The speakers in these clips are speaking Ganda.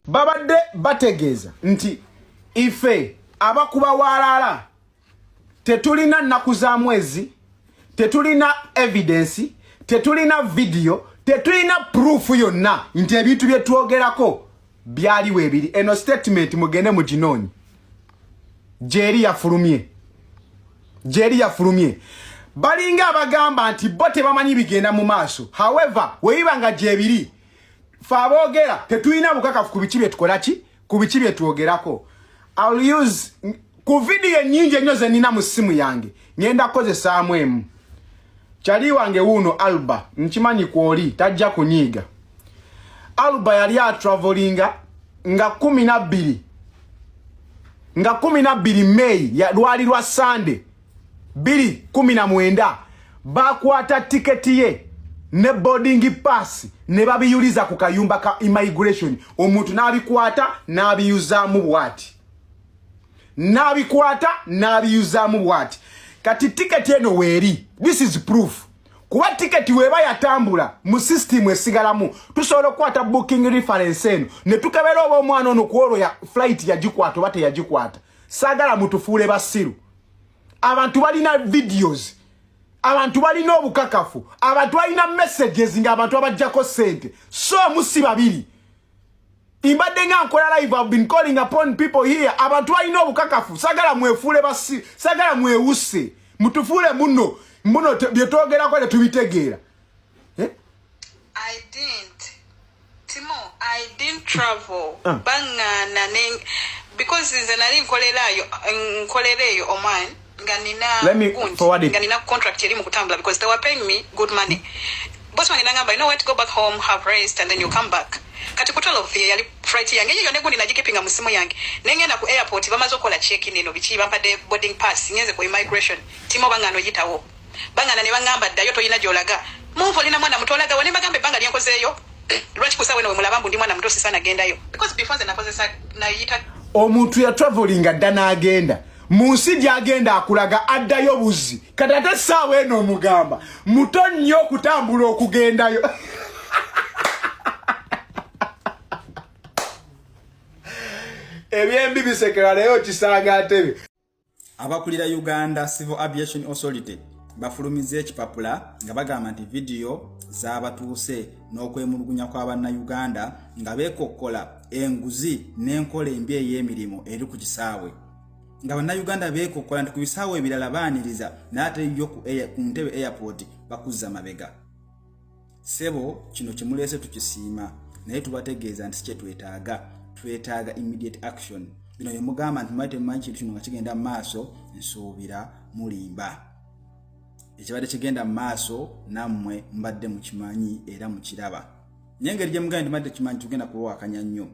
babadde bategeeza nti ife abakuba walaala tetulina nnaku za mwezi tetulina evidensi tetulina vidiyo tetulina puruufu yonna nti ebintu bye twogerako byali webiri eno statement mugende mu ginonyi jeri yafulumye jeri yafulumye balinga abagamba nti bo tebamanyi bigenda mu maaso however webiba nga gyebiri fe aboogera tetulina bukakafu ku biki byetukola ki ku biki byetwogerako ku vidiyo ennyingi ennyo ze nnina mu ssimu yange ngenda kukozesaamu emu kyali wange wuuno alba nkimanyi kwoli tajja kunyiiga alba yali atravolinga nga kumi nabbiri nga kumi nabbiri meyi lwali lwa sande biri kumi na mwenda bakwata tiketi ye ne boarding pass ne babiyuliza ku kayumba ka immigration omuntu n'abikwata n'abiyuzaamu bwati n'abikwata n'abiyuzaamu bwati kati tiketi eno weeri this is proof kuba tiketi weba yatambula mu system esigalamu tusobola okukwata booking reference eno ne tukebera oba omwana ono kuolwo ya flight yagikwata oba teyagikwata sagala mutufuule basiru abantu balina videos abantu balina obukakafu abantu balina messages nga abantu abajjako sente so musi babiri Mbadde nga nkola live I've been calling upon people here abantu balina obukakafu sagala mwefuule basi sagala mwewuse mutufuule muno muno bye twogerako tetubitegeera eh? I didn't Timo I didn't travel uh. Ah. bangana because nze nali nkolerayo nkolerayo Oman nga nina Let me gundi, forward it. nga nina contract eri mu kutambula because they were paying me good money boss wange nangamba you know what go back home have rest and then you come back kati ku 12 ye yali flight yange yiyo ne gundi nagikipinga mu simu yange ne ngenda ku airport bamaze okola check in eno biki bampadde boarding pass ngenze ku immigration timo bangano yitawo bangana ne bangamba ddayo tolina gyolaga mumva olina mwana muto olaga wane mbagamba ebbanga lyenkozeeyo lwaki kusa weno wemulaba mbu ndi mwana muto sisana gendayo because before nze nakozesa nayita omuntu yatravelinga dda n'agenda mu nsi gy'agenda akulaga addayo buzzi kati ate essaawa eno omugamba muto nnyo okutambula okugendayo ebyembi bisekera naye okisanga atebe abakulira uganda civil aviation authority bafulumiza ekipapula nga bagamba nti vidiyo zabatuuse n'okwemulugunya kw'abannayuganda nga beekokkola enguzi n'enkola embi ey'emirimu eri ku kisaawe nga bannayuganda beekokkola nti ku bisaawo ebirala baaniriza naate yo ku ntebe airport bakuzza mabega sebo kino kyemuleese tukisiima naye tubategeeza nti kyetwetaaga twetaaga immediate action bino yemugamba nti mwali temumanyi kintu kino nga kigenda mu maaso nsuubira mulimba ekibadde kigenda mu maaso nammwe mbadde mukimanyi era mukiraba naye engeri gyemugambe nti mwali tekimanyi tugenda kuwawakanya nnyo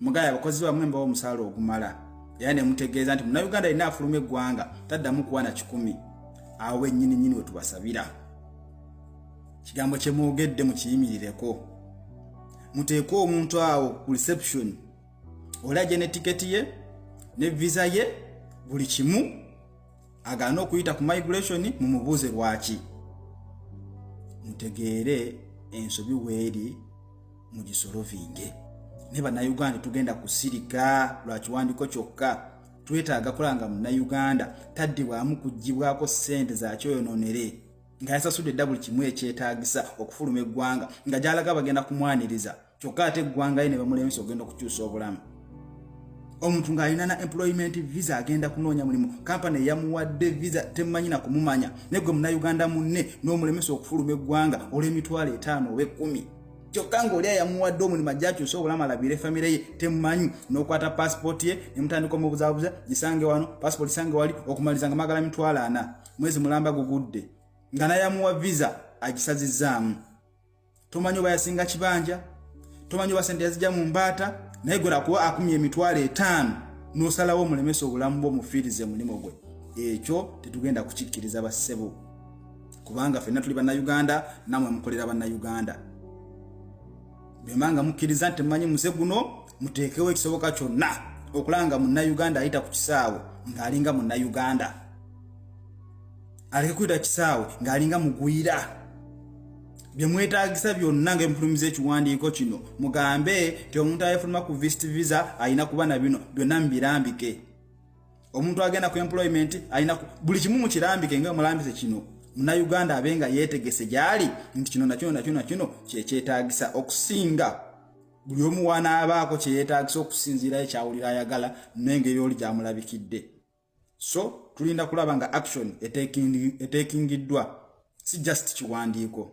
mugaya abakozi bamwe mbawo omusaala ogumala era ne mutegeeza nti munauganda alina afuluma eggwanga taddamu kuwa na kikumi awo wennyini nyini wetubasabira kigambo kye mwogedde mukiyimirireko muteeke omuntu awo ku reception olaje ne tiketi ye ne visa ye buli kimu agaana okuyita ku migration mumubuuze lwaki mutegeere ensobi weeri mugisolovinge ne bannayuganda tugenda kusirika lwa kiwandiko kyokka twetaaga kulanga munnayuganda taddibwamu kugibwako ssente zakyoyonoonere nga yasasudde edda buli kimu ekyetaagisa okufuluma eggwanga nga gyalaga bagenda kumwaniriza kyokka ate eggwanga ye ne bamulemesa okugenda okukyusa obulamu omuntu ng'alina na employment visa agenda kunoonya mulimu kampani eyamuwadde visa temumanyi na kumumanya naye gwe munnayuganda munne n'omulemesa okufuluma eggwanga olw'emitwalo etaano oba ekkumi kyokka ng'oli ayamuwadde omulimu ajja akyusa obulamu alabire famire ye temumanyi n'okwata paasipooti ye ne mutandika omubuzabuza gisange wano paasipooti sange wali okumaliza nga magala mitwalo ana mwezi mulamba gugudde nga nayamuwa visa agisazizaamu tomanyi oba yasinga kibanja tomanyi oba sente yazija mu mbaata naye gwera kuba akumya emitwalo etaano n'osalawo omulemesa obulamu bwo mufiirize omulimu gwe ekyo tetugenda kukikkiriza bassebo kubanga fenna tuli bannayuganda namwe mukolera bannayuganda bwemba nga mukkiriza nti mumanyi muze guno muteekewo ekisoboka kyonna okulanga munnayuganda ayita ku kisaawe ng'alinga munnayuganda aleke kuyita kisaawe ng'alinga mugwira bye mwetaagisa byonna nga emufulumiza ekiwandiiko kino mugambe nti omuntu ayefuluma ku vist visa alina kuba na bino byonna mubirambike omuntu agenda ku employment alina buli kimu mukirambike nga mulambise kino munauganda abe nga yetegese gyali nti kino nakino nakino nakino kyekyetagisa okusinga buli omu wanaabaako kyeyetagisa okusinziira ekyawulira ayagala nengeri oli gyamulabikidde so tulinda kulaba nga action etekingiddwa si just kiwandiiko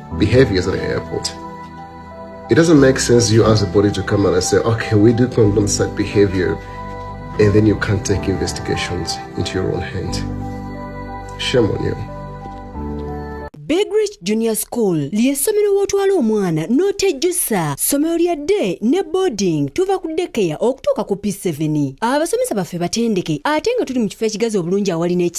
behaviors at the airport. It doesn't make sense you ask the body to come out and say, okay, we do condone such behavior, and then you can't take investigations into your own hand. Shame on you. Big Rich Junior School ly'essomero w'otwala omwana n'otejjusa ssomero lya day ne boarding tuva ku dekeya okutuuka ku P7 abasomesa baffe batendeke ate nga tuli mu kifo ekigazi obulungi awali n'eki